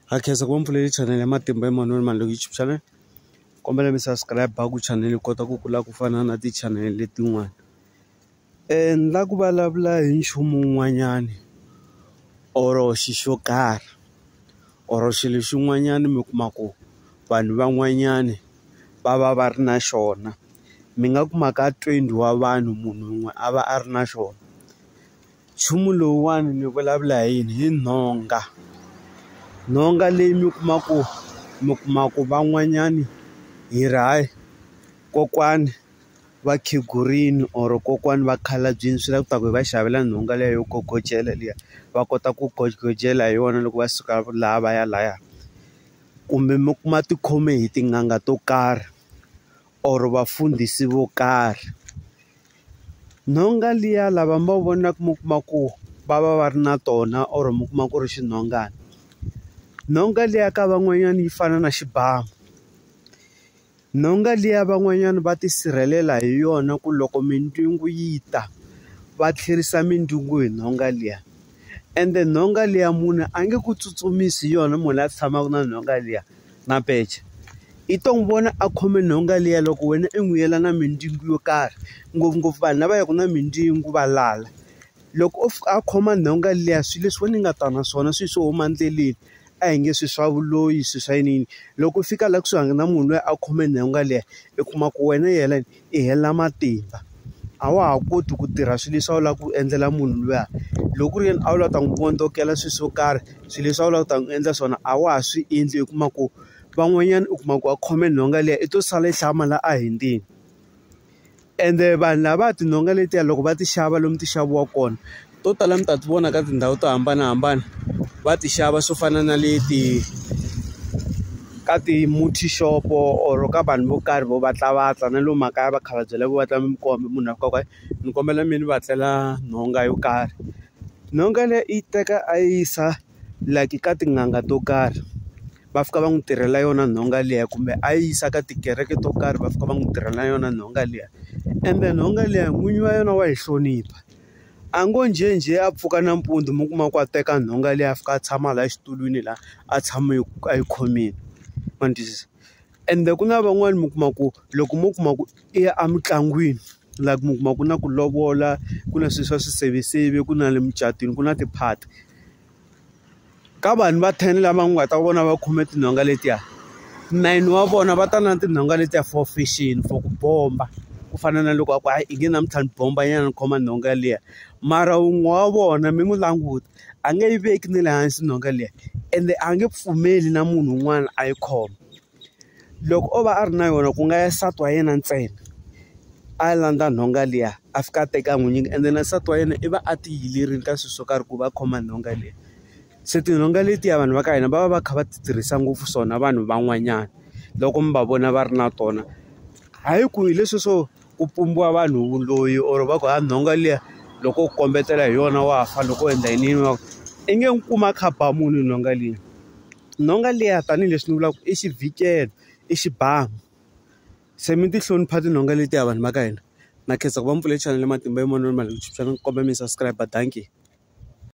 ha khensa ku va mpfuleli channel ya matimba Emmanuel Malungu YouTube channel kombela mi subscribe ku channel yi kota ku kula ku fana na ti channel letin'wana and la ku vulavula hi nchumu wun'wanyani or xi xo karhi or xilo xin'wanyani mi kuma ku vanhu van'wanyani va va va ri na xona mi nga kuma ka twenty wa vanhu munhu wun'we a va a ri na xona nchumu lowuwani ni vulavula hi yini hi nhonga nhonga leyi mi kuma ku mi kuma ku van'wanyani hi ri hayi kokwani va khegurini or kokwani va khalabyini swi la ku ta ku hi va xavela nhonga liya yo gogodyela liya va kota ku gogodyela hi yona loko va suka laha va ya laya kumbe mi kuma ti khome hi tin'anga to karhi or vafundhisi vo karhi. Nhonga liya lava mi va vonaka mi kuma ku va va va ri na tona or mi kuma ku ri xinhongana nhonga liya ka van'wanyana yi fana na xibamu nhonga liya van'wanyana va tisirhelela hi yona ku loko mindzhungu yi ta va tlherisa mindzhungu hi nhonga liya ende nhonga liya munhu a nge ku tsutsumisi yona munhu la tshamaka na nhonga liya. na pece. I to n'wi vona a khome nhonga liya loko wena i n'wi yela na mindzingu yo karhi ngopfungopfu vanhu lava yaka na mindzingu va lala loko o fika a khoma nhonga liya swilo leswi wena i nga ta na swona swilo swo huma endleleni a hi nge swi swa vuloyi swi swa yiniyini loko u fika laha kusuhani na munhu loyi a khome nhonga liya i kuma ku wena yena. i hela matimba a wa ha koti ku tirha swilo leswi a wu lava ku endlela munhu luya loko ku ri yena a wu lava ta n'wi vondzokela swilo swo karhi swilo leswi a wu lava ku ta n'wi endla swona a wa ha swi endli u kuma ku van'wanyana u kuma ku a khome nhonga liya i to sala yi hlaya mali a hi ndzeni ende vanhu lava tinhonga letiya loko va ti xava lomu ti xaviwaka kona. to tala mi ta ti vona ka tindhawu to hambanahambana va ti xava swo fana na le ti ka ti-multi shop or ka vanhu vo karhi vo vatlavatla na lomu makaya vakhalabya lavo va twa mi komba munhu a koka ni kombela mi ni va tlela nhonga yo karhi nhonga leyi i yi teka a yi yisa like ka tin'anga to karhi va fika va n'wi tirhela yona nhonga liya kumbe a yi yisa ka tikereke to karhi va fika va n'wi tirhela yona nhonga liya ende nhonga liya n'winyi wa yona wa yi hlonipha. A ngo njhenjhe a pfuka nampundzu mi kuma ku a teka nhonga liya a fika a tshama laha xitulwini laha a tshame a yi khomile ma ni twisisa ende ku na van'wani mi kuma ku loko mo kuma ku i ya emitlangwini like mi kuma ku na ku lovola ku na swilo swa swiseveseve ku na le mucatwini ku na ti-party. Ka vanhu va ten lama nga ta vona va khome tinhonga letiya nine wa vona va ta na tinhonga letiya for fishing for ku bomba ku fana na loko a ku hayi i nge namuntlha ni bomba nyana ni khoma nhonga liya mara wun'we wa vona mi n'wi languta a nge yi veki na le hansi nhonga liya ende a nge pfumeli na munhu un'wana a yi khoma. Loko o va a ri na yona ku nga ya nsati wa yena ntsena a landza nhonga liya a fika a teka n'wi nyika ende na nsati wa yena i va a ti yilerile ka swilo swo karhi ku va a khoma nhonga leyi se tinhonga letiya vanhu va ka hina va va va kha va ti tirhisa ngopfu swona vanhu van'wanyana loko mi va vona va ri na tona hayi ku hi leswi swo. ku pumbiwa vanhu loyi or va ku ha nhonga liya loko u kombetela hi yona wa fa loko u endla yini va i nge n'wi kuma a kha ba munhu nhonga liya nhonga liya tanihileswi ni vulaka i xibikela i xibamu se mi ti hlonipha tinhonga letiya vanhu va ka hina na khensa ku va mi pfulele chanele matimba hi mavonelo ma ni kombela mi subscribe dankie.